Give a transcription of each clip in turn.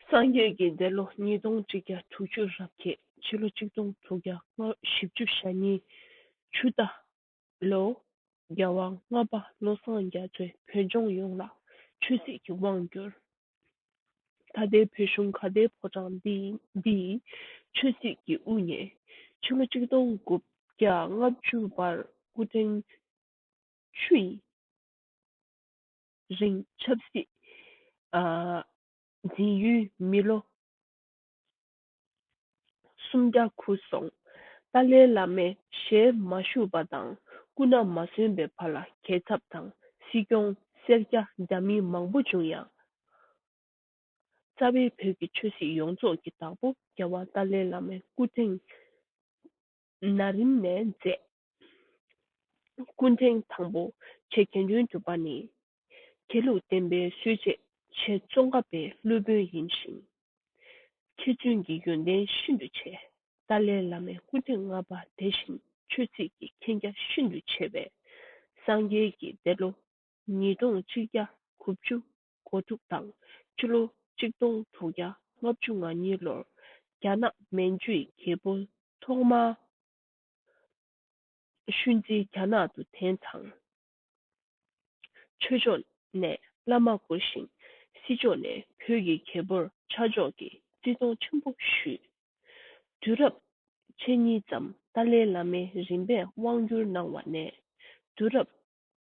སངས་རྒྱས་ཀྱི་འདས་ལོ་ཉིས་སྟོང་ཁྲི་བརྒྱ་དྲུག་ཅུ་རབ་རྒྱས་ཕྱི་ལོ་གཅིག་སྟོང་དྲུག་བརྒྱ་ང་བཞི་བཅུ་ཞག་གཉིས་ཆུ་རྟ། ལོ། རྒྱལ་དབང་ལྔ་པ་བློ་བཟང་རྒྱ་མཚོས་བོད་ལྗོངས་ཡོངས་ལ་ཆོས་སྲིད་ཀྱི་དབང་བསྒྱུར། ད་ལྟའི་བོད་གཞུང་ཁ་བརྡའི་ཕོ་བྲང་འདིའི་ཆོས་སྲིད་ཀྱི་དབུ་བརྙེས་ཕྱི་ལོ་གཅིག་སྟོང་དགུ་བརྒྱ་ལྔ་བཅུ་པར་སྐུ་ཕྲེང་བཅུ་ཡིན། རིང་ཆབ་སྲིད་འཛིན་ཡུལ་མི་ལོ་སུམ་བརྒྱ་འཁུར་སོང། ཏཱ་ལའི་བླ་མས་ཞལ་མ་བཤུས་པ་དང་སྐུ་ན་མ་སོན་པའི་བར་ལ་གས་ཚབ་དང་སྲིད་སྐྱོང་སེར་སྐྱ་རྒྱ་མིན་མང་པོ་བྱུང་ཡང། རྩ་བའི་བོད་ཀྱི་ཆོས་སྲིད་ཡོངས་རྫོགས་ཀྱི་བདག་པོ་རྒྱལ་བ་ཏཱ་ལའི་བླ་མའི་སྐུ་ཕྲེང་ན་རིམ་ནས་མཛད། སྐུ་ཕྲེང་དང་པོ་ཆེ་མཁན་ཆུང་གྱུར་པ་ནི། དགེ་ལུགས་བསྟན་པའི་སྲོལ་འབྱེད་ཆེད་ཙོང་ཁ་པའི་སློབ་དཔོན་ཡིན་ཞིང། མཁས་བཙུན་གྱི་ཡོན་ཏན་ཤིན་ཏུ་ཆེ། ཏཱ་ལའི་བླ་མའི་སྐུ་ཕྲེང་ལྔ་པ་དེ་བཞིན་ཆོས་ཚིགས་ཀྱི་མཁྱེན་རྒྱ་ཤིན་ཏུ་ཆེ་བས། སངས་རྒྱས་ཀྱི་འདས་ལོ་ཉིས་སྟོང་གཅིག་བརྒྱ་དགུ་བཅུ་གོ་དྲུག་དང་སྤྱི་ལོ་གཅིག་སྟོང་དྲུག་བརྒྱ་ལྔ་བཅུ་ང་གཉིས་ལོར་རྒྱ་ནག་མན་ཇུའི་རྒྱལ་པོ་ཐོག་མ་ཤུན་ཙི་རྒྱ་ནག་ཏུ་ཐེན་དང། ཆོས་ཕྱོགས་ནས་བླ་མ་བསྐོ་ཞིང་སྲིད་ཕྱོགས་ནས་བོད་ཀྱི་རྒྱལ་པོར་ཆ་འཇོག་གིས་བརྩི་མཐོང་ཆེན་པོ་ཞུས། དུས་རབས་ཕྱེད་གཉིས་ཙམ་ཏཱ་ལའི་བླ་མའི་རིམ་པས་དབང་བསྒྱུར་གནང་བ་ནས་དུས་རབས་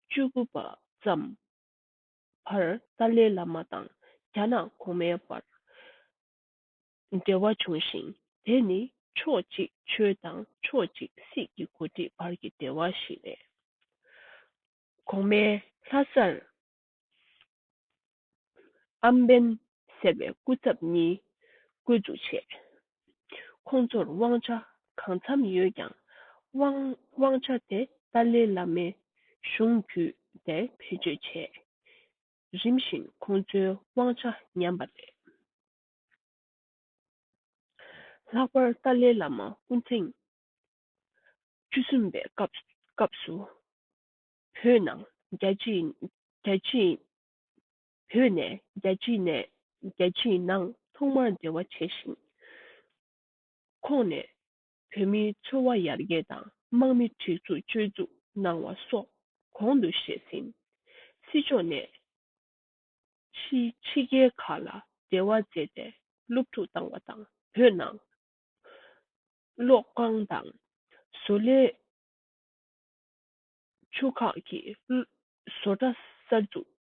བཅུ་དགུ་པ་ཙམ་བར་ཏཱ་ལའི་བླ་མ་དང་རྒྱ་ནག་གོང་མའི་བར་འབྲེལ་བ་བྱུང་ཞིང་དེ་ནི་ཕྱོགས་གཅིག་ཆོས་དང་ཕྱོགས་གཅིག་སྲིད་ཀྱི་མགོ་ཁྲིད་བར་གྱི་འབྲེལ་བ་ཞིག་རེད། གོང་མའི་ལྷ་སར་ཨམ་བན་ཟེར་བའི་སྐུ་ཚབ་གཉིས་བསྐོས་འཛུགས་བྱས། ཁོང་ཚོར་དབང་ཆ་གང་འཚམ་ཡོད་ཀྱང་དབང་ཆ་དེ་ཏཱ་ལའི་བླ་མའི་གཞུང་བརྒྱུད་དེ་བེད་སྤྱོད་བྱས། རིམ་བཞིན་ཁོང་ཚོའི་དབང་ཆ་ཉམས་པ་རེད། ལྷག་པར་ཏཱ་ལའི་བླ་མ་སྐུ་ཐེངས་བཅུ་གསུམ་པའི་སྐབས་སུ་བོད་ནང་རྒྱ་ཆེའི་བོད་ནས་རྒྱལ་སྤྱིའི་ནས་རྒྱལ་སྤྱིའི་ནང་ཐོག་མར་འབྲེལ་བ་བྱས་ཤིང། ཁོང་ནས་བོད་མིའི་འཚོ་བ་ཡར་རྒྱས་དང་དམག་མི་སྒྲིག་འཛུགས་བཅོས་བཙུགས་གནང་བ་སོགས་གོང་དུ་བཤད་ཟིན། སྲིད་ཕྱོགས་ནས་ཕྱི་ཕྱི་རྒྱལ་ཁག་ལ་འབྲེལ་བ་མཛད་དེ་སློབ་ཕྲུག་བཏང་བ་དང་བོད་ནང་གློག་ཁང་དང་བཟོ་ལས་ཆུ་ཁག་གི་བཟོ་གྲྭ་གསར་འཛུགས།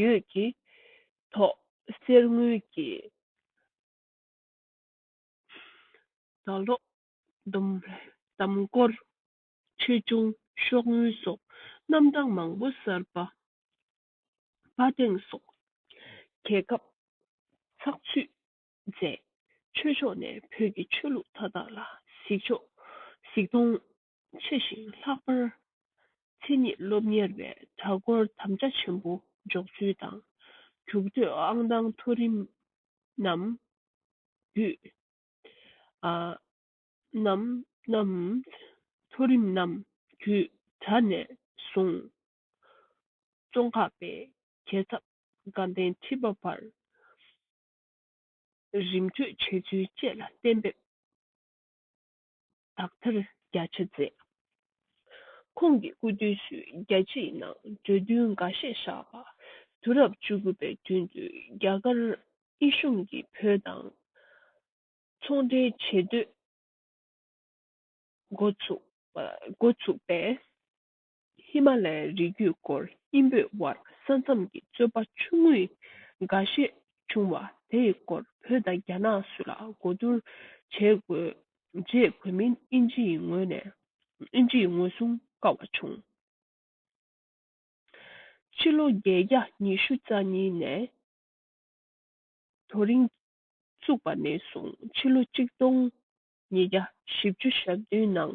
ཡོད་ཀྱི། ཐོག་སེར་དངུལ་གྱི། ཟླ་ལོག། དམ་སྐོར། ཆོས་འབྱུང། ཤོག་དངུལ་སོགས་རྣམ་གྲངས་མང་པོ་གསར་པ། དཔའ་སྟེང་སོགས། གྱེས་སྐབས། ཚགས་ཚུད། མཛད། ཆོས་ཕྱོགས་ནས་བོད་ཀྱི་ཆོས་ལུགས་མཐའ་དག་ལ་གཟིགས་ཕྱོགས། གཟིགས་མཐོང། ཆེ་ཞིང་ལྷག་པར་མཚན་ཉིད་སློབ་གཉེར་བའི་གྲྭ་སྐོར་དམ་བཅའ་ཆེན་པོ་འཇོག་ཚུལ་དང་འཇུག་འདོད་ཨང་དང་མཐོ་རིམ་རྣམས་བརྒྱུད། མཐོ་རིམ་རྣམས་བརྒྱུད་གྲྭ་ནས་བཟུང་ཙོང་ཁ་པའི་རྒྱལ་ཚབ་དགའ་ལྡན་ཁྲི་པ་བར་རིམ་བགྲོད་བྱས་ཚུལ་བཅས་ལ་གཏན་འབེབས་དག་ཐེར་བརྒྱ་ཆ་མཛད། ཁོང་གི་སྐུ་དུས་སུ་རྒྱལ་སྤྱིའི་ནང་གྲོས་མཐུན་འགའ་ཤས་བཞག་པ། དུས་རབས་བཅུ་དགུ་པའི་མདུན་དུ་རྒྱ་གར་དབྱི་གཞུང་གིས་བོད་དང་ཚོང་འབྲེལ་བྱེད་འདོད་འགོ་ཚུགས་པས། ཧི་མ་ལའི་རི་རྒྱུད་སྐོར་གཉིས་པོའི་བར་ས་མཚམས་ཀྱི་རྩོད་པ་ཆུང་ངུ་འགའ་ཤས་བྱུང་བ་དེའི་སྐོར་བོད་དང་རྒྱ་ནག་སུ་ལ་གོ་བསྡུར་བྱེད་དགོས་རྗེས་བོད་མིན་ཨིན་ཇི་ཡི་ངོས་ནས་ཨིན་ཇི་ཡི་ངོས་བཟུང་དཀའ་བ་བྱུང། ཕྱི་ལོ་བརྒྱད་བརྒྱ་ཉི་ཤུ་རྩ་གཉིས་ནས་དོ་རིང་བཙུགས་པ་ནས་བཟུང་ཕྱི་ལོ་གཅིག་སྟོང་ཉིས་བརྒྱ་བཞི་བཅུ་ཞག་བདུན་ནང་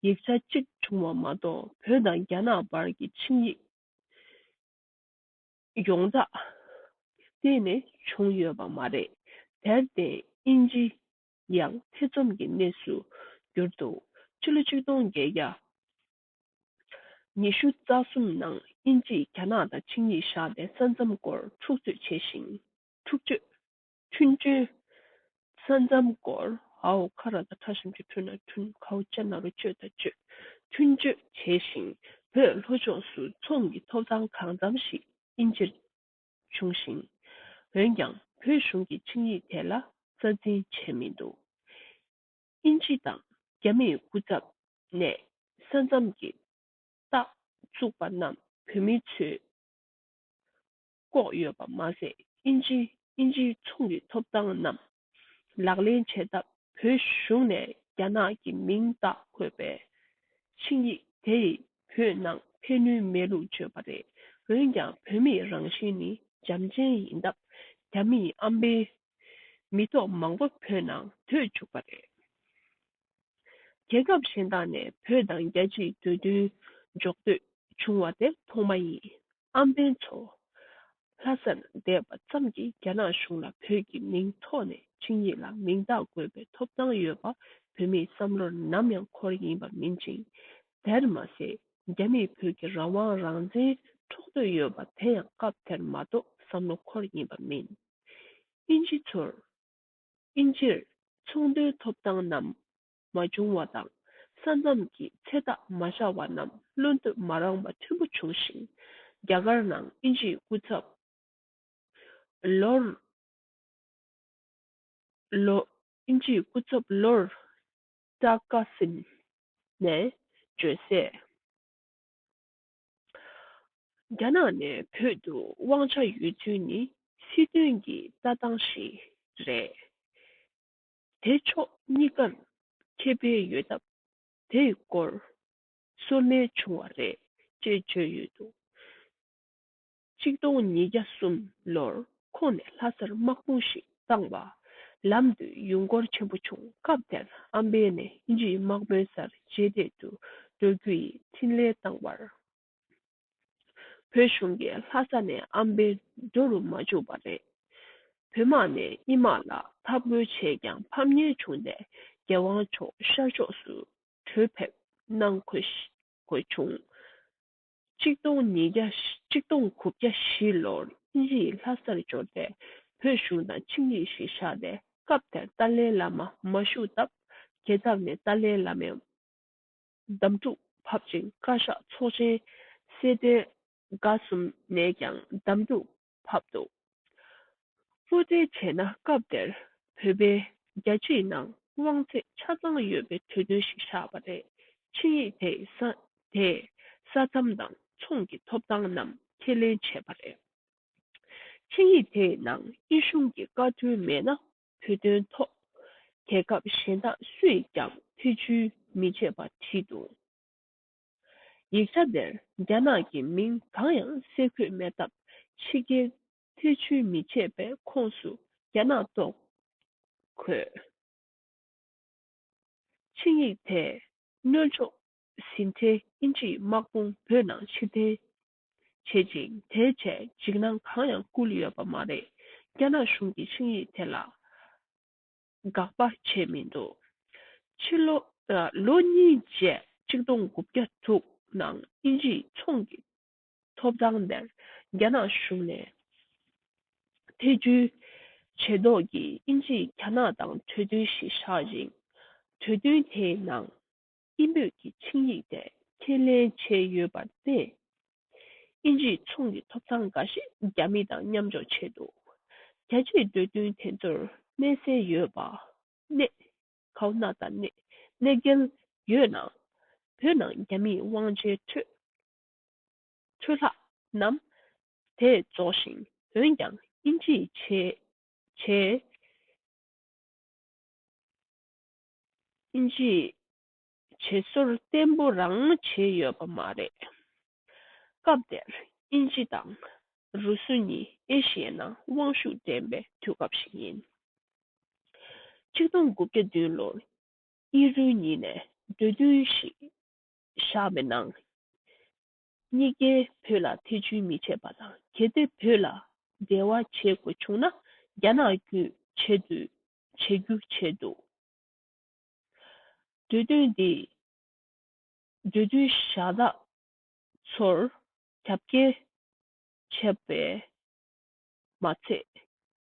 ཡིག་ཆ་གཅིག་བྱུང་བ་མ་གཏོགས་བོད་དང་རྒྱ་ནག་བར་གྱི་ཆིངས་ཡིག་ཡོངས་གྲགས་གཏན་ནས་བྱུང་ཡོད་པ་མ་རེད། དེར་བརྟེན་དབྱིན་ཇི་ཡང་ཐེ་ཚོམ་གྱི་གནས་སུ་གྱུར་འདུག་ཕྱི་ལོ་ཆིག་སྟོང་བརྒྱད་བརྒྱ་ཉི་ཤུ་རྩ་གསུམ་ནང་དབྱིན་ཇིས་རྒྱ་ནག་དང་ཆིངས་ཡིག་བཞག་སྟེ་ས་མཚམས་སྐོར་འཁྲུག་རྩོད་བྱས་ཤིང། འཁྲུག་རྩོད་ཐུན་བཅུ། ས་མཚམས་བསྐོར། ཧཱུྃ་ཁ་ར་དང་ཁྲ་ཞིམ་གྱི་ཐུན་ནང་ཐུན་ཁའུ་ལྕེ་རྣ་རུ་གཅོད་དང་གཅོད་ཐུན་གཅོད་བྱས་ཤིང་བོད་ལྷོ་ཕྱོགས་སུ་ཚོམ་གྱི་ཐོབ་ཐང་གང་འཚམ་ཞིག་དབྱིན་ཇིར་བྱུང་ཞིང། འོན་ཀྱང་བོད་གཞུང་གིས་ཆིངས་ཡིག་དེ་ལ་རྩ་འཛིན་བྱས་མི་འདུག་དབྱིན་ཇི་དང་རྒྱ་མིའི་སྐུ་ཚབ་ནས་ས་མཚམས་ཀྱི་རྟགས་བཙུགས་པ་རྣམས་བོད་མི་ཚོས་བཀོག་ཡོད་པ་མ་ཟད་དབྱིན་ཇི་དབྱིན་ཇིའི་ཚོང་གི་ཐོབ་ཐང་རྣམས་ལག་ལེན་བྱས་སྟབས་བོད་གཞུང་ནས་རྒྱ་ནག་གི་མིང་བཏགས་འཁོད་པའི་ཆིངས་ཡིག་དེ་ཡིས་བོད་ནང་ཕན་ནུས་མེད་ལུགས་བརྗོད་པ་རེད་འོན་ཀྱང་བོད་མིའི་རང་བཞིན་ནི་འཇམ་ཅན་ཡིན་སྟབས་རྒྱ་མིའི་ཨམ་པའི་མི་ཐོག་མང་པོ་བོད་ནང་བུད་བཅུག་པ་རེད། རྒྱལ་ཁབ་གཞན་དག་ནས་བོད་དང་རྒྱལ་སྤྱིའི་འདོད་འདུན་འཇོག་འདོད་བྱུང་བ་དེ་མཐོང་མ་ཡིན་ཨམ་བན་ཚོ། ལྷ་སར་བསྡད་པ་ཙམ་གྱིས་རྒྱ་ནག་གཞུང་ལ་བོད་ཀྱི་མིང་ཐོག་ནས་ཆིངས་ཡིག་ལ་མིང་རྟགས་དགོས་པའི་ཐོབ་ཐང་ཡོད་པ་བོད་མིའི་བསམ་བློར་ནམ་ཡང་འཁོར་ཡིན་པ་མིན་ཅིང། དེར་མ་ཟད་རྒྱ་མིས་བོད་ཀྱི་རང་དབང་རང་བཙན་འཕྲོག་འདོད་ཡོད་པ་དེ་ཡང་སྐབས་དེར་མ་གཏོགས་བསམ་བློ་འཁོར་ཡིན་པ་མིན། དབྱིན་ཇི་ཚོར། དབྱིན་ཇིར་ཚོང་དོན་ཐོབ་ཐང་རྣམས་མ་བྱུང་བ་དང་ས་མཚམས་ཀྱི་ཚད་བརྟག་མ་བྱ་བ་རྣམས་བློ་འདོད་མ་རངས་པ་མཐོན་པོ་བྱུང་ཞིང་རྒྱ་གར་ནང་དབྱིན་ཇིའི་སྐུ་ཚབ། Lord། དབྱིན་ཇིའི་སྐུ་ཚབ Lord Takassim། ནས་བརྗོད་གསལ། རྒྱ་ནག་ནས་བོད་དུ་དབང་ཆ་ཡོད་ཚུལ་ནི་སྲིད་དོན་གྱི་ལྟ་སྟངས་ཤིག་རེད། དེ་ཕྱོགས་གཉིས་ཀར་ཁེ་ཕན་ཡོད་སྟབས་དེའི་སྐོར་སོར་ལེན་བྱུང་བ་རེད་ཅེས་བརྗོད་ཡོད་འདུག་གཅིག་སྟོང་ཉིས་བརྒྱ་གསུམ་ལོར་ཁོང་ནས་ལྷ་སར་དམག་དཔུང་ཞིག་བཏང་བ། ལམ་དུ་ཡུལ་མགོར་ཆེན་པོ་བྱུང་སྐབས་དེར་ཨམ་བན་ནས་དབྱིན་ཇིའི་དམག་དཔོན་སར་རྗེས་འདེད་དུ་འགྲོ་རྒྱུ་ཡི་འཕྲིན་ལས་བཏང་བར། བོད་གཞུང་གིས་ལྷ་ས་ནས་ཨམ་བན་འགྲོ་རུ་མ་བཅུག་པ་རེད། བོད་དམག་ནས་དབྱིན་དམག་ལ་འཐབ་རྒོལ་བྱས་ཀྱང་ཕམ་ཉེས་བྱུང་སྟེ་རྒྱལ་དབང་མཆོག་ཤར་ཕྱོགས་སུ་བྲོས་ཕེབས་གནང་དགོས་བྱུང། གཅིག་སྟོང་ཉིས་བརྒྱ་གཅིག་སྟོང་དགུ་བརྒྱ་བཞི་ལོར་དབྱིན་ཡིག་ལྷ་སར་འབྱོར་ཏེ་བོད་གཞུང་དང་ཆིངས་ཡིག་ཞིག་བཞག་ནས་སྐབས་དེར་ཏཱ་ལའི་བླ་མ་མ་བཞུགས་སྟབས་རྒྱལ་ཚབ་ནས་ཏཱ་ལའི་བླ་མའི་གདམས་ཐུག་ཕབ་ཅིང་བཀའ་ཤག་ཚོགས་ཆེན་གསལ་འདོན་དགའ་གསུམ་ནས་ཀྱང་གདམས་ཐུག་ཕབ་འདུག་བློ་འདྲི་བྱས་ན་སྐབས་དེར་བོད་པའི་རྒྱལ་གཅེས་ནང་དབང་ཚད་ཆ་ཚང་ཡོད་པའི་གྲོས་མཐུན་ཞིག་བཞག་པ་རེད་ཆིངས་ཡིག་དེས་ས་མཚམས་དང་མཚུངས་ཀྱི་ཐོབ་ཐང་རྣམས་ཁས་ལེན་བྱས་པ་རེད། ཆིངས་ཡིག་དེའི་ནང་དབྱིན་གཞུང་གི་བཀའ་དྲུང་མེད་ན་བོད་དོན་ཐོག་རྒྱལ་ཁབ་གཞན་དག་སུས་ཀྱང་ཐེ་བྱུས་མི་བྱེད་པ་བྲིས་འདུག། ཡིག་ཆ་དེར་རྒྱ་ནག་གི་མིང་གང་ཡང་གསལ་འཁོད་མེད་སྟབས་ཕྱི་རྒྱལ་ཐེ་བྱུས་མི་བྱེད་པའི་ཁོངས་སུ་རྒྱ་ནག་གཏོགས། ཁོས་ཆིངས་ཡིག་དེས་གནོད་ཕྱོགས་ཟིན་ཐེ་དབྱིན་ཇིའི་དམག་དཔུང་བོད་ནང་ཕྱིར་འཐེན་བྱེད་ཅིང་དེའི་ཆེད་འཇིགས་སྣང་གང་ཡང་བསྐུལ་ཡོད་པ་མ་རེད། རྒྱ་ནག་གཞུང་གིས་ཆིངས་ཡིག་དེ་ལ། འགག་པར་བྱས་མི་འདུག་ཕྱི་ལོ། ལོ་གཉིས་བརྒྱད་ཆིག་སྟོང་དགུ་བརྒྱ་དྲུག་ནང་དབྱིན་ཇིའི་ཚོང་གི་ཐོབ་ཐང་དེར་རྒྱ་ནག་གཞུང་ནས་ཐེ་ཇུས་བྱས་མདོག་གིས་དབྱིན་ཇིས་རྒྱ་ནག་དང་གྲོས་མཐུན་ཞིག་བཞག་ཅིང་གྲོས་མཐུན་དེའི་ནང། ཨིན་བོད་ཀྱི་ཆིངས་ཡིག་སྟེ། ཁས་ལེན་བྱས་ཡོད་པར་བལྟས། ཨིན་ཇིའི་ཚོང་གི་ཐོབ་ཐང་འགའ་ཞིག་རྒྱ་མི་དང་མཉམ་འཇོག་བྱས་འདུག་རྒྱལ་སྤྱིའི་འདོད་འདུན་དེ་ཚོར་གནས་གསལ་ཡོད་པ། གནས། ཁའོ་ན་ད་ནས་གནད་འགལ་ཡོད་ན། བོད་ནང་རྒྱ་མིས་དབང་ཆའི་འཕྲོད་འཕྲོས་ལྷག་རྣམ་དེ་རྫོགས་ཤིང་འོན་ཀྱང་ཨིན་ཇིའི་བྱས་བྱས། ཨིན་ཇིའི་བྱེད་སྲོལ་བརྟན་པོ་རང་མོས་བྱས་ཡོད་པ་མ་རེད། སྐབས་དེར་ཨིན་ཇི་དང་རུ་སུ་གཉིས་ཨེ་ཤི་ཡའི་ནང་དབང་ཤུགས་ལྡན་པའི་དུས་སྐབས་ཤིག་ཡིན། ཆིག་སྟོང་དགུ་བརྒྱ་བདུན་ལོར་དབྱི་རུའི་ཉིན་ནས་འདོད་བསྡུས་ཤིག་བཞག་པའི་ནང། གཉིས་ཀས་བོད་ལ་ཐེ་བྱུས་མི་བྱེད་པ་དང་གལ་ཏེ་བོད་ལ་འབྲེལ་བ་བྱེད་དགོས་བྱུང་ན་རྒྱ་ནག་བརྒྱུད་བྱེད་དུས་བྱེད་རྒྱུ་བྱས་འདུག་འདོད་འདུན་འདི་འདོད་འདུན་བཞག་ན་ཚོར་རྒྱབ་སྐྱེལ་བྱས་པས་མ་ཚད་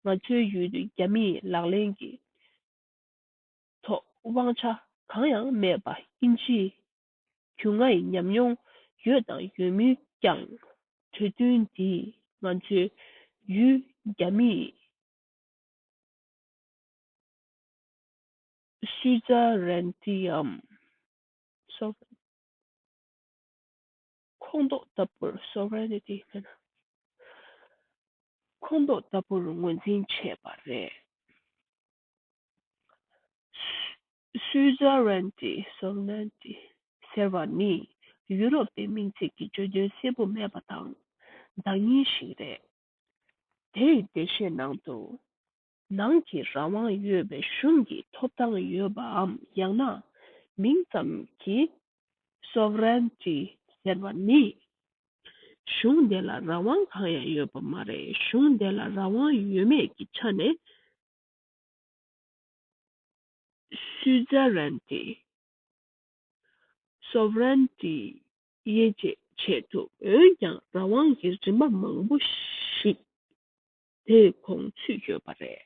ང་ཚོའི་ཡུལ་དུ་རྒྱ་མིས་ལག་ལེན་གྱི་ཐོག་དབང་ཆ་གང་ཡང་མེད་པ་དབྱིན་ཇིའི་རྒྱུ་ང་ཡི་ཉམས་མྱོང་ཡོད་དང་ཡོད་མུས་ཀྱང་འདོད་འདུན་འདི་ང་ཚོའི་ཡུལ་རྒྱ་མིས་ཤུལ་བཞག་རན་ཏིའམ Sovereign། ཁོངས་གཏོགས་ལྟ་བུར Sovereignty སྨྲས་ན། ཁོངས་གཏོགས་ལྟ་བུར་ངོས་འཛིན་བྱས་པ་རེད། ཤུལ་བཞག་རན་ཏི Sovereignty ཟེར་བ་ནི་ཡུ་རོབ་པའི་མིང་ཚིག་གི་བརྗོད་དོན་གསལ་པོ་མེད་པ་དང་བདག་གཉེར་ཞིག་རེད། དེ་ཡི་འགྲེལ་བཤད་ནང་དུ། ནང་གི་རང་དབང་ཡོད་པའི་གཞུང་གི་ཐོབ་ཐང་ཡོད་པའམ་ཡང་ན་མིང་ཙམ་གྱི Sovereignty ཟེར་བ་ནི། གཞུང་དེ་ལ་རང་དབང་གང་ཡང་ཡོད་པ་མ་རེད་གཞུང་དེ་ལ་རང་དབང་ཡོད་མེད་ཀྱི་ཆ་ནས Suzerainty། Sovereignty། དབྱེ་འབྱེད་བྱེད་དུ་འོན་ཀྱང་རང་དབང་གི་རིམ་པ་མང་པོ་ཞིག་དེ་གོང་ཚུད་ཡོད་པ་རེད།